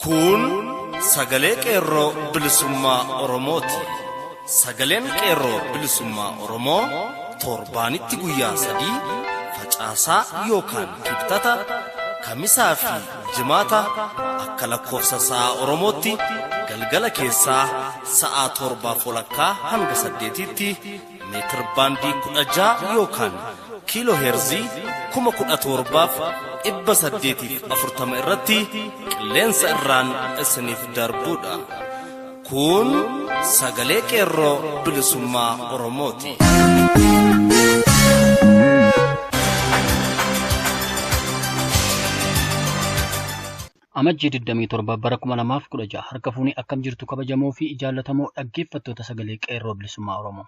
Kun sagalee qeerroo bilisummaa Oromooti. Sagaleen qeerroo bilisummaa Oromoo torbaanitti guyyaa sadii facaasaa yookaan kibxata kamisaa fi Jimaata akka lakkoofsa sa'a Oromootti galgala keessaa sa'a torbaaf walakkaa hanga saddeetiitti meetir baandii kudha ja'a yookaan kiiloo heerzii kuma kudha torbaaf dhibba saddeetiif afurtama irratti qilleensa irraan isiniif darbuudha. Kun sagalee qeerroo bilisummaa Oromooti. Amajjii 27 bara 2016 harka fuunee akkam jirtu kabajamoo fi jaallatamoo dhaggeeffattoota sagalee qeerroo bilisummaa Oromoo.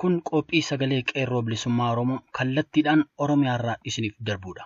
Kun qophii sagalee qeerroo bilisummaa Oromoo kallattiidhaan Oromiyaarraa isiniif darbudha.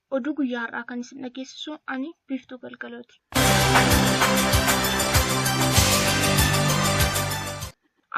Oduu guyyaa har'aa kan isin dhageessisu ani Biiftuu Galgalooti.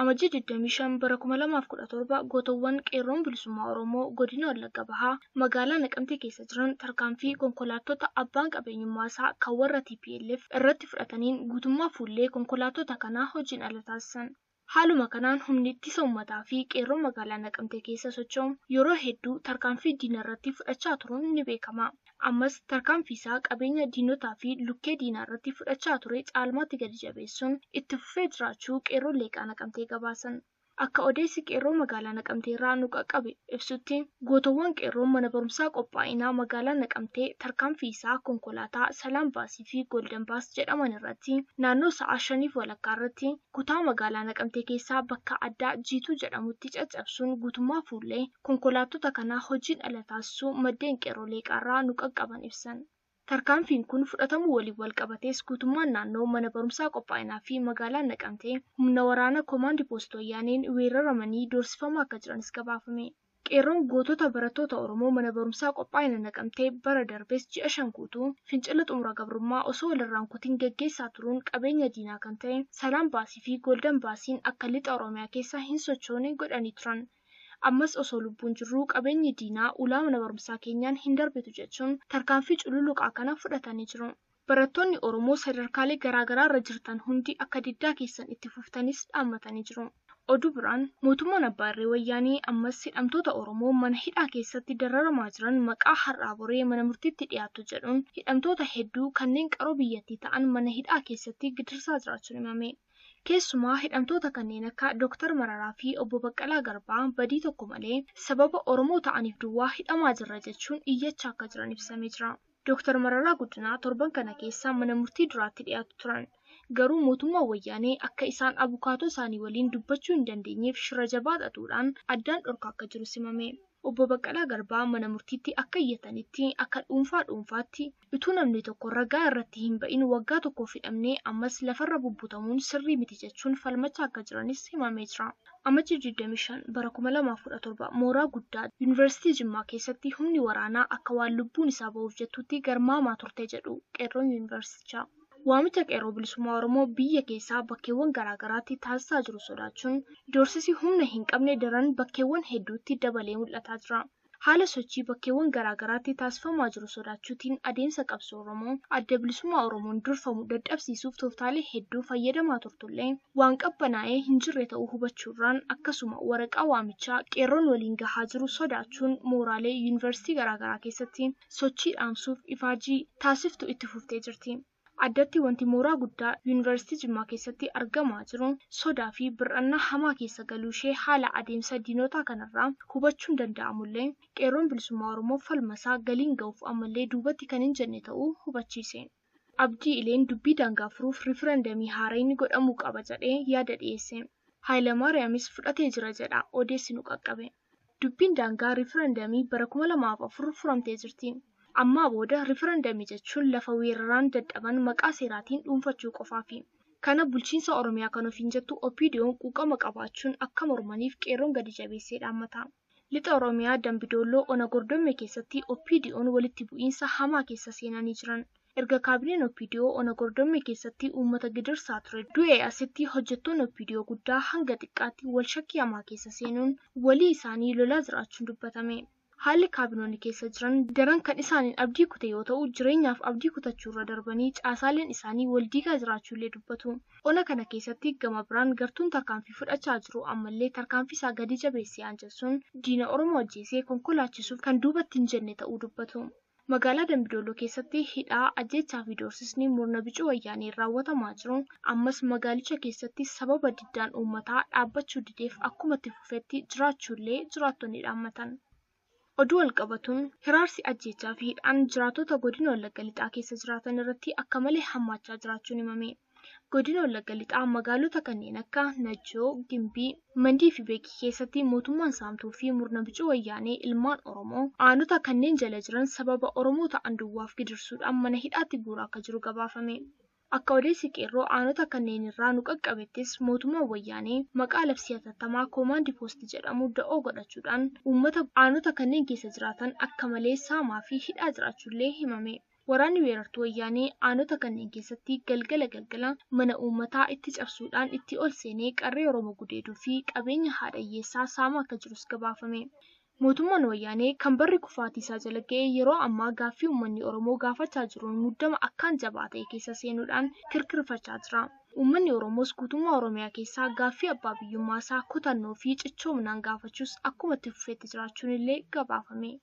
Amajjii 25 bara 2017 gootowwan qeerroon bilisummaa Oromoo godina Wallagga Bahaa magaalaa Naqamtee keessa jiran tarkaanfii konkolaattota abbaan qabeenyummaa isaa kan warra TPLF irratti fudhataniin guutummaa fuullee konkolaattota kanaa hojiin ala taasisan. Haaluma kanaan humni ittisa ummataa fi qeerroo magaalaa Naqamtee keessa socho'u yeroo hedduu tarkaanfii diina irratti fudhachaa turuun ni beekama. Ammas tarkaanfii isaa qabeenya diinotaa fi lukkee diinaa irratti fudhachaa ture caalmaatti gadi jabeessuun itti fufee jiraachuu qeerroon Leeqaa Naqamtee gabaasan. Akka odeessi qeerroo magaalaa Naqamtee irraa nu qaqqabe ibsutti gootowwan qeerroon mana barumsaa qophaa'inaa magaalaa Naqamtee tarkaanfii isaa konkolaataa Salaam Baasii fi Golden Bus jedhaman irratti naannoo sa'a shaniif walakkaa irratti kutaa magaalaa Naqamtee keessaa bakka addaa Jiituu jedhamutti caccabsuun guutummaa fuullee konkolaattota kanaa hojiin ala taasisuu maddeen Qeerroo Leeqaarraa nu qaqqaban ibsan. Tarkaanfiin kun fudhatamuu waliin walqabatees guutummaan naannoo mana barumsaa Qophaa'inaa fi magaalaan Naqamtee humna waraana Komaandi Poost Wayyaaneen weeraramanii doorsifamaa akka jiranis gabaafame. Qeerroon gootota barattoota Oromoo mana barumsaa Qophaa'ina Naqamtee bara darbes ji'a shan guutuu fincila xumura gabrummaa osoo walirraa hin kutin geggeessaa turuun qabeenya diinaa kan ta'e Salaam Baasii fi Golden Baasiin akka Lixa Oromiyaa keessa hin sochoone godhanii turan. Ammas osoo lubbuun jirruu qabeenyi diinaa ulaa mana barumsaa keenyaan hin darbitu jechuun tarkaanfii cululuqaa kana fudhatanii jiru. Barattoonni Oromoo sadarkaalee garaagaraa irra jirtan hundi akka diddaa keessan itti fuftanis dhaammatanii jiru. Oduu biraan, mootummaan abbaa irree Wayyaanee ammas hidhamtoota Oromoo mana hidhaa keessatti dararamaa jiran maqaa har'aa boree mana murtiitti dhiyaattu jedhuun hidhamtoota hedduu kanneen qaroo biyyattii ta'an mana hidhaa keessatti gidirsaa jiraachuun himame. Keessumaa hidhamtoota kanneen akka Dr. Mararaa fi Obbo Baqqalaa Garbaa badii tokko malee sababa Oromoo ta'aniif duwwaa hidhamaa jirra jechuun iyyachaa akka jiran ibsamee jira. Dooktar Mararaa Guddinaa torban kana keessa mana murtii duraatti dhiyaatu turan. Garuu mootummaan Wayyaanee akka isaan abukaatoo isaanii waliin dubbachuu hin dandeenyeef shira jabaa xaxuudhaan addaan dhorkaa akka jirus himame. Obbo Baqqalaa Garbaa mana murtiitti akka iyyatanitti akka dhuunfaa dhuunfaatti utuu namni tokko ragaa irratti hin ba'in waggaa tokkoof hidhamnee ammas lafarra bubbutamuun sirrii miti jechuun falmachaa akka jiranis himamee jira. Amajjii 25 bara 2017 mooraa guddaa Yuunivarsiitii Jimmaa keessatti humni waraanaa akka waan lubbuun isaa bahuuf jettuutti garmaamaa turte jedhu qeerroon Yuunivarsiitichaa. Waamicha Qeerroo Bilisummaa Oromoo biyya keessaa bakkeewwan garaa garaatti taasisaa jiru sodaachuun doorsisi humna hin qabne daran bakkeewwan hedduutti dabalee mul'ataa jira. haala sochii bakkeewwan garaa garaatti taasifamaa jiru sodaachuutiin adeemsa qabsoo Oromoo Adda Bilisummaa Oromoon durfamu dadhabsiisuuf tooftaalee hedduu fayyadamaa turtullee waan qabbanaa'ee hin jirre ta'uu hubachuurraan akkasuma waraqaa waamichaa qeerroon waliin gahaa jiru sodaachuun mooraalee Yuunivarsiitii garaa garaa keessatti sochii dhaamsuuf ifaajii taasiftu itti fuftee jirti. Addatti wanti mooraa guddaa Yuunivarsiitii Jimmaa keessatti argamaa jiru sodaa fi bir'annaa hamaa keessa galuu ishee haala adeemsa diinotaa kanarraa hubachuun danda'amullee, Qeerroon Bilisummaa Oromoo falma isaa galiin ga'uuf ammallee duubatti kan hin jenne ta'uu hubachiise. Abdii Ileen dubbii daangaa furuuf riifarandamii haarayni godhamuu qaba jedhee yaada dhiyeesse. Haayilamaariyaamis fudhatee jira jedha odeessi nu qaqqabe. Dubbiin daangaa riifarandamii bara 2004 furamtee jirti. Ammaa booda riifarandamii jechuun lafa weeraraan dadhaban maqaa seeraatiin dhuunfachuu qofaafi. Kana bulchiinsa Oromiyaa kan ofiin jettu OPDOn quuqama qabaachuun akka mormaniif Qeerroon gadi jabeessee dhaammata. Lixa Oromiyaa Dambi Doolloo Ona Gordommee keessatti OPDOn walitti bu'iinsa hamaa keessa seenanii jiran. Erga kaabineen OPDO ona Gordommee keessatti uummata gidirsaa ture du'ee asitti hojjettoonni OPDO guddaa hanga xiqqaatti wal shakkii hamaa keessa seenuun walii isaanii lolaa jiraachuun dubbatame. Haalli kaabinoonni keessa jiran daran kan isaaniin abdii kute yoo ta'u jireenyaaf abdii kutachuu irra darbanii caasaaleen isaanii wal diigaa jiraachuu illee dubbatu. Ona kana keessatti gama biraan gartuun tarkaanfii fudhachaa jiru ammallee tarkaanfii isaa gadi jabeessee aanjessuun diina Oromoo ajjeesee konkolaachiisuuf kan duubatti hin jenne ta'uu dubbatu. Magaalaa Dambi Dolloo keessatti hidhaa, ajjeechaa fi doorsisni murna bicuu Wayyaaneen raawwatamaa jiru ammas magaalicha keessatti sababa diddaan uummataa dhaabbachuu dideef akkuma itti fufetti jiraachuu illee jiraattonni dhaammatan. Oduu wal qabatuun hiraarsi ajjeechaa fi hidhaan jiraattota godina Wallagga Lixaa keessa jiraatan irratti akka malee hammaachaa jiraachuun himame. Godina Wallagga Lixaa magaalota kanneen akka Najjoo, Gimbii, Mandii fi Beekii keessatti mootummaan saamtuu fi murna bicuu wayyaanee ilmaan Oromoo aanota kanneen jala jiran sababa Oromoo ta'an duwwaaf gidirsuudhaan mana hidhaatti guuraa akka jiru gabaafame. Akka odeessi qeerroo aanota kanneen irraa nu qaqqabettis mootummaan wayyaanee maqaa labsii hatattamaa koomaandi poosti jedhamu da'oo godhachuudhaan uummata aanota kanneen keessa jiraatan akka malee saamaa fi hidhaa jiraachuullee himame. Waraanni weerartuu Wayyaanee aanota kanneen keessatti galgala galgala mana uummataa itti cabsuudhaan itti ol seenee qarree Oromoo gudeeduu fi qabeenya haadha hiyyeessaa saamaa akka jirus gabaafame. Mootummaan Wayyaanee kan barri kufaatii isaa jala ga'e yeroo ammaa gaaffii uummanni Oromoo gaafachaa jiruun muddama akkaan jabaa ta'e keessa seenuudhaan kirkirfachaa jira. Uummanni Oromoos guutummaa Oromiyaa keessaa gaaffii abbaa biyyummaa isaa kutannoo fi cichoominaan gaafachuus akkuma itti fufetti jiraachuun illee gabaafame.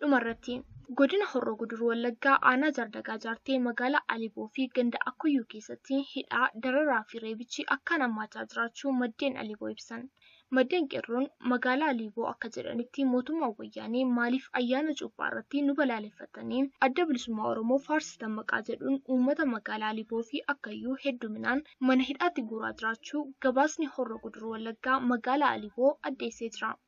Dhumarratti, Godina Horroo Guduruu Wallaggaa Aanaa Jaardagaa Jaartee Magaalaa Aliboo fi Ganda Akkuyyuu keessatti hidhaa, dararaa fi reebichi akkaan hammaachaa jiraachuu maddeen Aliboo ibsan. Maddeen Qeerroon Magaalaa Aliboo akka jedhanitti mootummaan Wayyaanee maaliif ayyaana Cuuphaa irratti nu balaaleffattanii Adda Bilisummaa Oromoo faarsitan maqaa jedhuun uummata Magaalaa Aliboo fi Akkayyuu hedduminaan mana hidhaatti guuraa jiraachuu gabaasni Horroo Guduruu Wallaggaa Magaalaa Aliboo addeessee jira.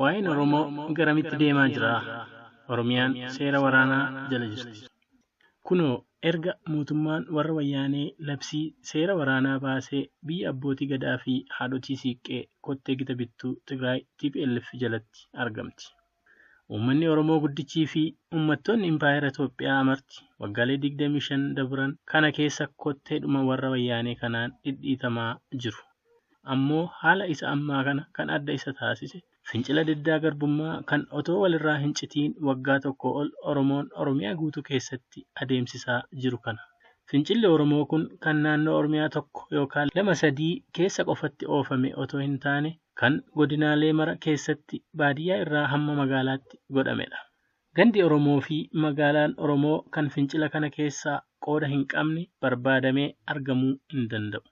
Waa'een Oromoo garamitti deemaa jira? Oromiyaan seera waraanaa jala jirti. Kunoo erga mootummaan warra wayyaanee labsii seera waraanaa baasee biyya abbootii gadaa fi haadhotii siiqqee kottee gita bittuu Tigraay tplf jalatti argamti. Uummanni Oromoo guddichii fi uummattoonni Impaayera Itoophiyaa marti waggaalee 25 dabran kana keessa kotteedhuma warra Wayyaanee kanaan dhidhiitamaa jiru. Ammoo haala isa ammaa kana kan adda isa taasise fincila diddaa garbummaa kan otoo walirraa hin citiin waggaa tokkoo ol Oromoon Oromiyaa guutuu keessatti adeemsisaa jiru kana. Fincilli Oromoo kun kan naannoo Oromiyaa tokko yookaan lama sadii keessa qofatti oofame otoo hin taane, kan godinaalee mara keessatti baadiyyaa irraa hamma magaalaatti godhamedha. Gandi Oromoo fi magaalaan Oromoo kan fincila kana keessaa qooda hin qabne barbaadamee argamuu hin danda'u.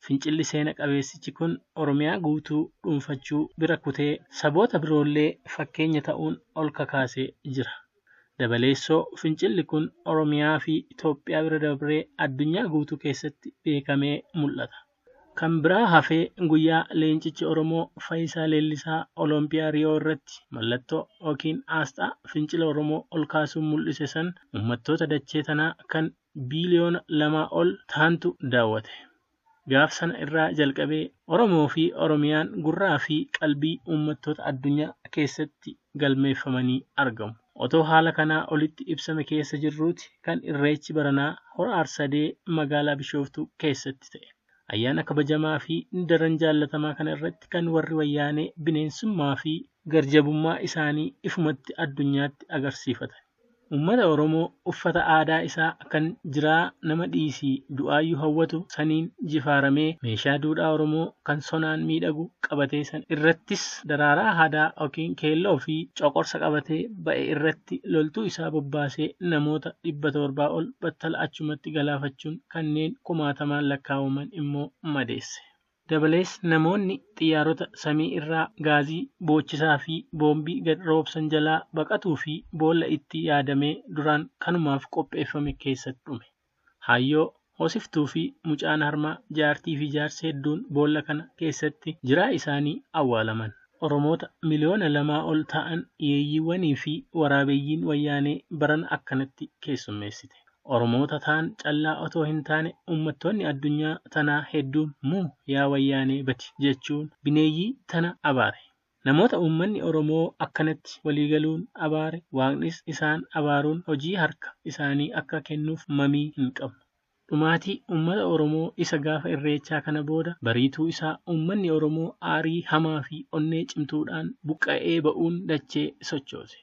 Fincilli seena qabeessichi kun Oromiyaa guutuu dhuunfachuu bira kutee saboota biroollee fakkeenya ta'uun ol kakaasee jira. Dabaleessoo fincilli kun Oromiyaa fi Itoophiyaa bira dabree addunyaa guutuu keessatti beekamee mul'ata. Kan biraa hafee guyyaa leencichi Oromoo Fayisaa Leellisaa Olompiyaa Riyoo irratti mallattoo ykn aasxaa fincila Oromoo ol kaasuun mul'ise san ummattoota dachee tanaa kan biiliyoona lamaa ol tahantu daawwate. Gaaf sana irraa jalqabee Oromoo fi Oromiyaan gurraa fi qalbii ummattoota addunyaa keessatti galmeeffamanii argamu. Otoo haala kanaa olitti ibsame keessa jirruuti kan Irreechi baranaa Hora Arsadee magaalaa Bishooftuu keessatti ta'e. Ayyaana kabajamaa fi daran jaallatamaa kana irratti kan warri Wayyaanee bineensummaa fi garjabummaa isaanii ifumatti addunyaatti agarsiifatan. Ummata Oromoo uffata aadaa isaa kan jiraa nama dhiisii du'aayyu hawwatu saniin jifaaramee meeshaa duudhaa Oromoo kan sonaan miidhagu qabatee san irrattis daraaraa haadaa ykn keelloo fi coqorsa qabatee ba'e irratti loltuu isaa bobbaasee namoota 700 ol battala achumatti galaafachuun kanneen kumaatamaan lakkaawaman immoo madeesse. Dabalees namoonni xiyyaarota samii irraa gaazii boochisaa fi boombii gad roobsan jalaa baqatuu fi boolla itti yaadamee duraan kanumaaf qopheeffame keessatti dhume. Haayyoo, hoosiftuu fi mucaan harmaa, jaartii fi jaarsi hedduun boolla kana keessatti jiraa isaanii awwaalaman. Oromoota miliyoona lamaa ol ta'an yeeyyiiwwanii fi waraabeyyiin wayyaanee barana akkanatti keessummeessite. Oromoota taan callaa otoo hin taane ummattoonni addunyaa tanaa hedduun muu yaa wayyaanee badi jechuun bineeyyii tana abaare. Namoota ummanni Oromoo akkanatti walii galuun abaare Waaqnis isaan abaaruun hojii harka isaanii akka kennuuf mamii hin qabnu. Dhumaatii ummata Oromoo isa gaafa Irreechaa kana booda bariituu isaa ummanni Oromoo aarii hamaa fi onnee cimtuudhaan buqqa'ee ba'uun dachee sochoose.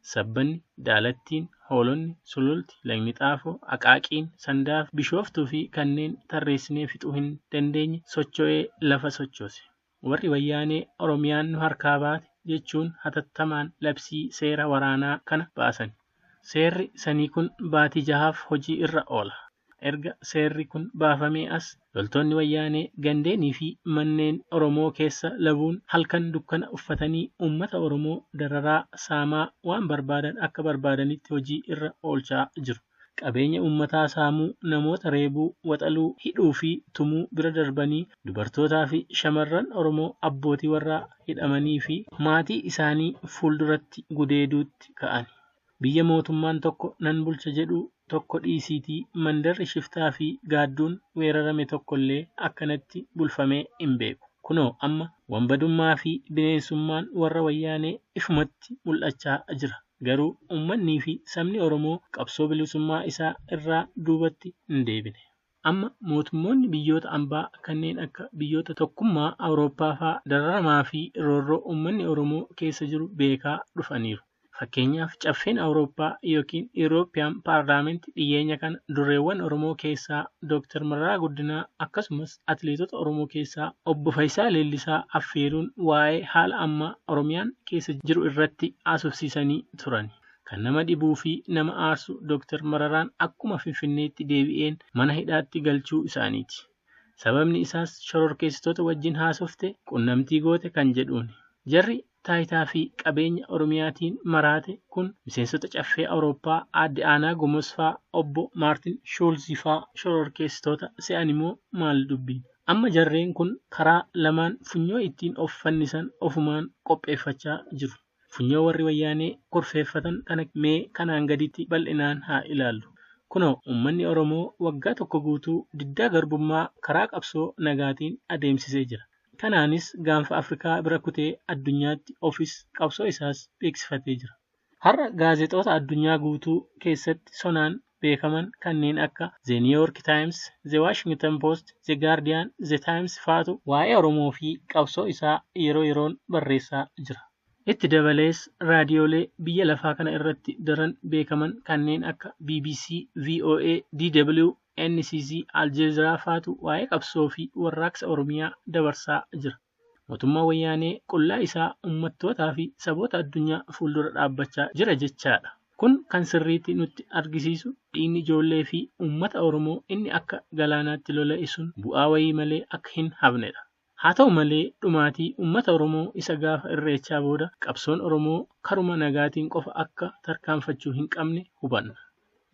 Sabbanni, Daalattiin, Hoolonni, Sululti, Lagni Xaafoo, Aqaaqiin, Sandaafi Bishooftuufi kanneen tarreessinee fixuu hin dandeenye socho'ee lafa sochoose. Warri Wayyaanee Oromiyaan nu harkaa baate jechuun hatattamaan labsii seera waraanaa kana baasani. Seerri sanii kun baatii jahaaf hojii irra oola. Erga seerri kun baafamee as loltoonni Wayyaanee gandeenii fi manneen Oromoo keessa labuun halkan dukkana uffatanii uummata Oromoo dararaa, saamaa, waan barbaadan akka barbaadanitti hojii irra oolchaa jiru. Qabeenya uummataa saamuu, namoota reebuu, waxaluu, hidhuu fi tumuu bira darbanii dubartootaa fi shamarran Oromoo abbootii warraa hidhamanii fi maatii isaanii fuulduratti gudeeduutti ka'ani. Biyya mootummaan tokko nan bulcha jedhu tokko dhiisiitii mandarri shiftaa fi gaadduun weerarame tokko illee akkanatti bulfamee hin beeku. Kunoo amma wanbadummaa fi bineensummaan warra wayyaanee ifumatti mul'achaa jira. Garuu ummannii fi sabni Oromoo qabsoo bilisummaa isaa irraa duubatti hin deebine. Amma mootummoonni biyyoota ambaa kanneen akka biyyoota tokkummaa Awurooppaa faa dararamaa fi roorroo uummanni Oromoo keessa jiru beekaa dhufaniiru. Fakkeenyaaf Caffeen Awurooppaa ykn European Parliament dhiyyeenya kana durreewwan Oromoo keessaa Dr. Mararaa Guddinaa akkasumas atileetota Oromoo keessaa Obbo Fayisaa Leellisaa affeeruun waa'ee haala ammaa Oromiyaan keessa jiru irratti haasofsiisanii turani. Kan nama dhibuu fi nama aarsu Dr. Mararaan akkuma Finfinneetti deebi'een mana hidhaatti galchuu isaaniiti. Sababni isaas shororkeessitoota wajjin haasofte, qunnamtii goote kan jedhuuni. Jarri taayitaa fi qabeenya Oromiyaatiin maraate kun miseensota Caffee Awurooppaa Aadde Aanaa Gomos faa, Obbo Maartin Shuulzi faa shororkeessitoota se'ani moo maali dubbiin? Amma jarreen kun karaa lamaan funyoo ittiin of fannisan ofumaan qopheeffachaa jiru. Funyoo warri Wayyaanee kurfeeffatan kana mee kanaan gaditti bal'inaan haa ilaallu. Kunoo uummanni Oromoo waggaa tokko guutuu diddaa garbummaa karaa qabsoo nagaatiin adeemsisee jira. Kanaanis gaanfa Afrikaa bira kutee addunyaatti ofis qabsoo isaas beeksifatee jira. Har'a gaazexoota addunyaa guutuu keessatti sonaan beekaman kanneen akka The New York Times, The Washington Post, The Guardian, The Times faatu waa'ee Oromoo fi qabsoo isaa yeroo yeroon barreessaa jira. Itti dabalees raadiyoolee biyya lafaa kana irratti daran beekaman kanneen akka bbc, voa, DW, NCZ, Aljeeziraa faatu waa'ee qabsoo fi warraaqsa Oromiyaa dabarsaa jira. Mootummaan Wayyaanee qullaa isaa ummattootaa fi saboota addunyaa fuuldura dhaabbachaa jira jechaa dha. Kun kan sirriitti nutti argisiisu dhiigni ijoollee fi ummata Oromoo inni akka galaanaatti lola'e sun bu'aa wayii malee akka hin hafne dha. Haa ta'u malee dhumaatii ummata Oromoo isa gaafa Irreechaa booda qabsoon Oromoo karuma nagaatiin qofa akka tarkaanfachuu hin qabne hubanna.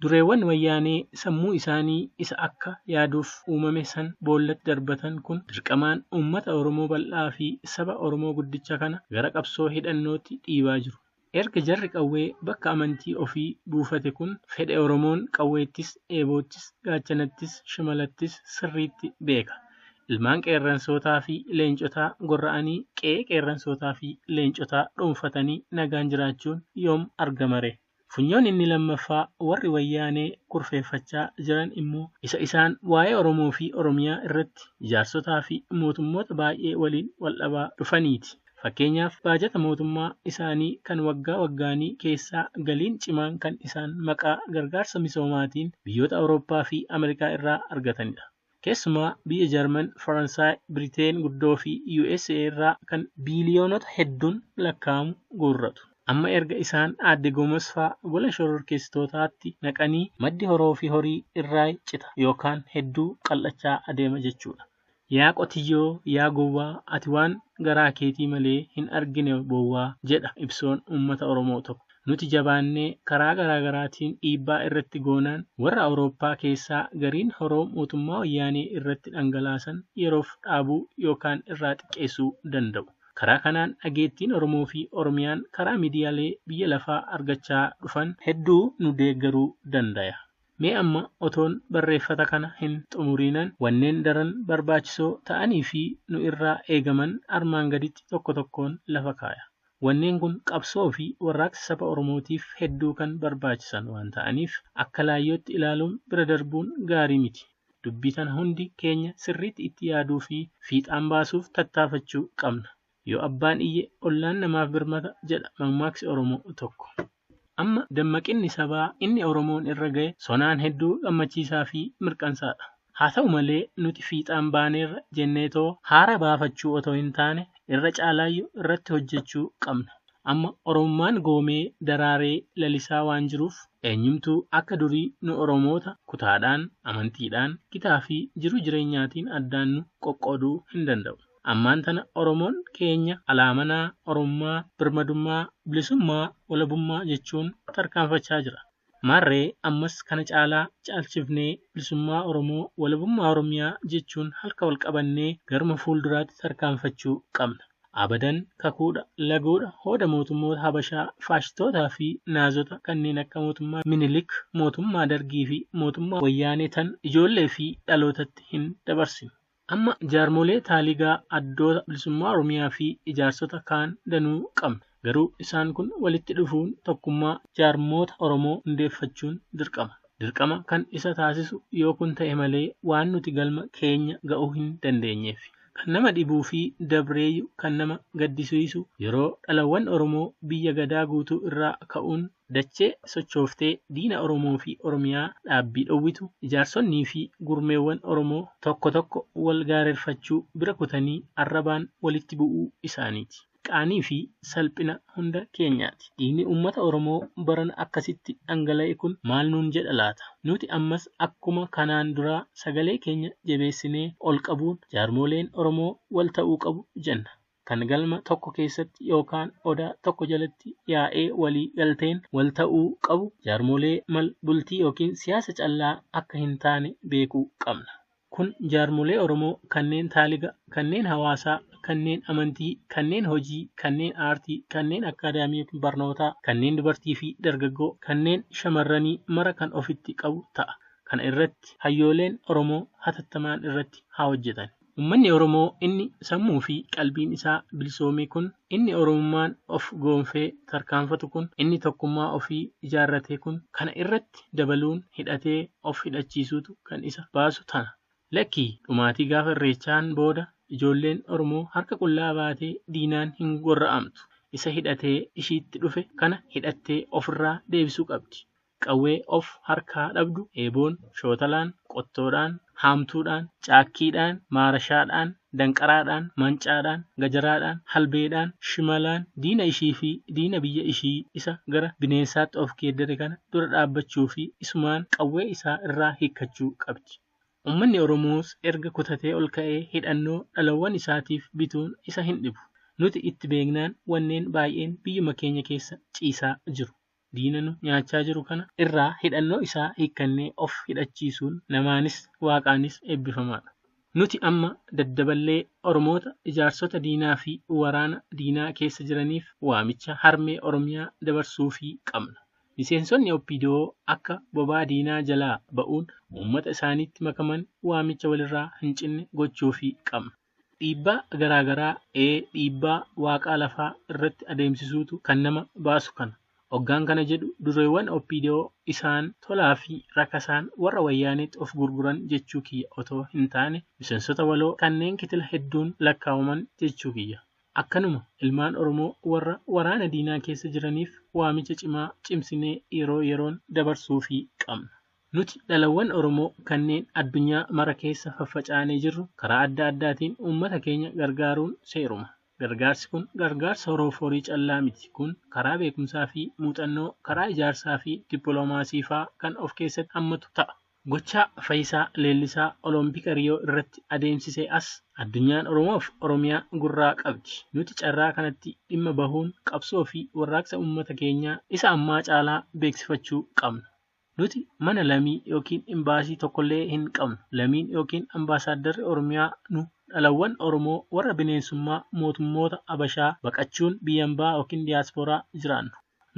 Dureewwan Wayyaanee sammuu isaanii isa akka yaaduuf uumame san boollatti darbatan kun dirqamaan uummata Oromoo bal'aa fi saba Oromoo guddicha kana gara qabsoo hidhannootti dhiibaa jiru. Erga jarri qawwee bakka amantii ofii buufate kun fedhe Oromoon qawweettis, eeboottis, gaachanattis, shimalattis sirriitti beeka. Ilmaan qeerransootaa fi leencotaa gorra'anii qe'ee qeerransootaa fi leencotaa dhuunfatanii nagaan jiraachuun yoom argamaree? Funyoon inni lammaffaa warri Wayyaanee kurfeeffachaa jiran immoo isa isaan waa'ee Oromoo fi Oromiyaa irratti jaarsotaa fi mootummoota baay'ee waliin waldhabaa dhufaniiti. Fakkeenyaaf baajata mootummaa isaanii kan waggaa waggaanii keessaa galiin cimaan kan isaan maqaa gargaarsa misoomaatiin biyyoota Awurooppaa fi Amerikaa irraa argatanidha. Keessumaa biyya Jarman, Faransaay, Biriteen guddoo fi usa irraa kan biiliyoonota hedduun lakkaa'amu guurratu. Amma erga isaan Aadde Gomes faa gola shororkeessitootaatti naqanii maddi horoo fi horii irraay cita yookaan hedduu qal'achaa adeema jechuu dha. Yaa qotiyyoo, yaa gowwaa, ati waan garaa keetii malee hin argine bowwaa, jedha ibsoon uummata Oromoo tokko. Nuti jabaannee karaa garaa garaatiin dhiibbaa irratti goonaan warra Awurooppaa keessaa gariin horoo mootummaa Wayyaanee irratti dhangalaasan yeroof dhaabuu yookaan irraa xiqqeessuu danda'u. Karaa kanaan dhageettiin Oromoo fi Oromiyaan karaa miidiyalee biyya lafaa argachaa dhufan hedduu nu deeggaruu dandaya. Mee amma otoon barreeffata kana hin xumuriinan wanneen daran barbaachisoo ta'anii fi nu irraa eegaman armaan gaditti tokko tokkoon lafa kaaya. Wanneen kun qabsoo fi warraaqsa saba Oromootiif hedduu kan barbaachisan waan ta'aniif akka laayyootti ilaaluun bira darbuun gaarii miti. Dubbii tana hundi keenya sirriitti itti yaaduu fi fiixaan baasuuf tattaafachuu qabna. Yoo abbaan iyye ollaan namaaf birmata jedha mammaaksi Oromoo tokko. Amma dammaqinni sabaa inni Oromoon irra gahe sonaan hedduu gammachiisaa fi mirqansaa dha. Haa ta'u malee nuti fiixaan baaneerra jenneetoo haara baafachuu otoo hin taane irra caalaayyu irratti hojjechuu qabna. Amma Oromummaan goomee daraaree lalisaa waan jiruuf eenyumtuu akka durii nu Oromoota kutaadhaan, amantiidhaan, gitaa fi jiruu jireenyaatiin addaan nu qoqqooduu hin danda'u. Ammaan tana Oromoon keenya alaamanaa Oromummaa, Birmadummaa, Bilisummaa, Walabummaa jechuun tarkaanfachaa jira. Maarree ammas kana caalaa caalchifnee Bilisummaa Oromoo, Walabummaa Oromiyaa jechuun halka wal qabannee garuma fuulduraatti tarkaanfachuu qabna. Abadan kakuudha, laguudha, hooda mootummoota Habashaa, faashistootaa fi Naazota kanneen akka mootummaa Minilik, mootummaa Dargii fi mootummaa Wayyaanee tan ijoollee fi dhalootatti hin dabarsinu. Amma jaarmolee taaligaa addoota bilisummaa Oromiyaa fi ijaarsota kaan danuu qabna. Garuu isaan kun walitti dhufuun tokkummaa jaarmoota Oromoo hundeeffachuun dirqama. Dirqama kan isa taasisu yoo kun ta'e malee waan nuti galma keenya ga'uu hin dandeenyeef. Kan nama dhibuu fi dabreeyyu kan nama gaddisiisu yeroo dhalawwan Oromoo biyya Gadaa guutuu irraa ka'uun Dachee sochooftee diina Oromoo fi Oromiyaa dhaabbii dhowwitu, ijaarsonnii fi gurmeewwan Oromoo tokko tokko wal gaarerfachuu bira kutanii arrabaan walitti bu'uu isaaniiti. Qaanii fi salphina hunda keenyaati. Dhiigni uummata Oromoo barana akkasitti dhangala'e kun maal nuun jedha laata? Nuti ammas akkuma kanaan duraa sagalee keenya jebeessinee ol qabuun jaarmooleen Oromoo wal ta'uu qabu jenna. kan galma tokko keessatti yookaan odaa tokko jalatti yaa'ee walii galteen wal ta'uu qabu jaarmolee mal bultii ykn siyaasa callaa akka hin taane beekuu qabna. Kun jaarmolee Oromoo kanneen taaliga, kanneen hawaasaa, kanneen amantii, kanneen hojii, kanneen aartii, kanneen akkaadaamii ykn barnootaa, kanneen dubartii fi dargaggoo, kanneen shamarranii mara kan ofitti qabu ta'a. Kana irratti hayyooleen Oromoo hatattamaan irratti haa hojjetan. Ummanni Oromoo inni sammuu fi qalbiin isaa bilisoome kun, inni Oromummaan of goonfee tarkaanfatu kun, inni tokkummaa ofii ijaarrate kun, kana irratti dabaluun hidhatee of hidhachiisuutu kan isa baasu ta'a. Lakkii! Dhumaatii gaafa Irreechaan booda ijoolleen Oromoo harka qullaa baatee diinaan hin gorra'amtu. Isa hidhatee ishiitti dhufe kana hidhattee ofirraa deebisuu qabdi. Qawwee of harkaa dhabdu, eeboon, shootalaan, qottoodhaan, haamtuudhaan, caakkiidhaan, maarashaadhaan, danqaraadhaan, mancaadhaan, gajaraadhaan, halbeedhaan, shimalaan diina ishii fi diina biyya ishii isa gara bineensaatti of geeddare kana dura dhaabbachuu fi isumaan qawwee isaa irraa hiikkachuu qabdi. Ummanni Oromoos erga kutatee ol ka'ee hidhannoo dhalawwan isaatiif bituun isa hin dhibu. Nuti itti beeknaan wanneen baay'een biyyuma keenya keessa ciisaa jiru. diina nu nyaachaa jiru kana irraa hidhannoo isaa hiikkannee of hidhachiisuun namaanis waaqaanis eebbifamaadha. Nuti amma daddaballee Oromoota ijaarsota diinaa fi waraana diinaa keessa jiraniif waamicha harmee Oromiyaa dabarsuufii qabna. Miseensonni opdo akka bobaa diinaa jalaa ba'uun uummata isaaniitti makaman waamicha walirraa hin cinne gochuufii qabna. Dhiibbaa garaa garaa, ee dhiibbaa waaqaa lafaa irratti adeemsisuutu kan nama baasu kana. Oggaan kana jedhu dureewwan opdo isaan tolaa fi rakasaan warra wayyaaneetti of gurguran jechuu kiyya otoo hin taane misensota waloo kanneen kitila hedduun lakkaawaman jechuu kiyya. Akkanuma ilmaan Oromoo warra waraana diinaa keessa jiraniif waamicha cimaa cimsinee yeroo yeroon dabarsuufii qabna. Nuti dhalawwan Oromoo kanneen addunyaa mara keessa faffacaanee jirru karaa adda addaatiin uummata keenya gargaaruun seeruma. Gargaarsi kun gargaarsa horoof horii callaa miti. Kun karaa beekumsaa fi muuxannoo, karaa ijaarsaa fi dippiloomaasii faa kan of keessatti hammatu ta'a. Gochaa Fayisaa Leellisaa Olompika Riyoo irratti adeemsisee as, addunyaan Oromoof Oromiyaa gurraa qabdi. Nuti carraa kanatti dhimma bahuun qabsoo fi warraaqsa uummata keenyaa isa ammaa caalaa beeksifachuu qabna. Nuti mana lamii ykn imbaasii tokkollee hin qabnu. Lamiin ykn ambaasaaddarri Oromiyaa nu dhalawwan Oromoo warra bineensummaa mootummoota Abashaa baqachuun biyyambaa ykn diyaaspooraa jiraannu.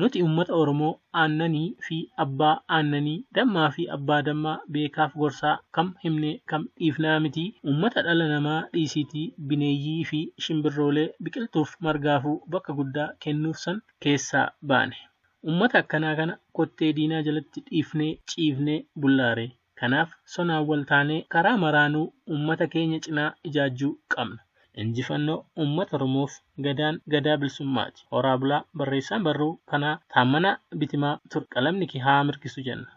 Nuti ummata Oromoo aannanii fi abbaa aannanii, dammaa fi abbaa dammaa, beekaaf gorsaa, kam himnee kam dhiifnaa miti, ummata dhala namaa dhiisiitii bineeyyii fi shimbirroolee, biqiltuuf margaafuu bakka guddaa kennuuf san keessaa baane. Ummata akkanaa kana kottee diinaa jalatti dhiifnee ciifnee bullaa ree? Kanaaf sonaan wal taanee karaa maraanuu ummata keenya cinaa ijaajjuu qabna. Injifannoo Ummata Oromoof! Gadaan Gadaa Bilsummaati! Horaa bulaa! Barreessaan barruu kanaa Taammanaa Bitimaa tur qalamni kee haa mirgisu jenna.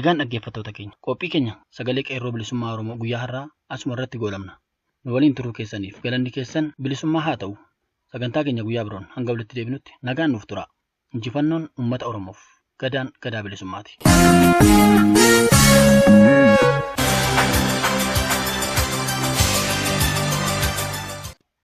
Egaan dhaggeeffattoota keenya qophii keenya sagalee qeerroo bilisummaa Oromoo guyyaa har'aa asuma irratti goolabna. Nu waliin turuu keessaniif galanni keessan bilisummaa haa ta'u. Sagantaa keenya guyyaa biroon hanga walitti deebinutti nagaan nuuf turaa. Injifannoon uummata Oromoof. Gadaan gadaa bilisummaati.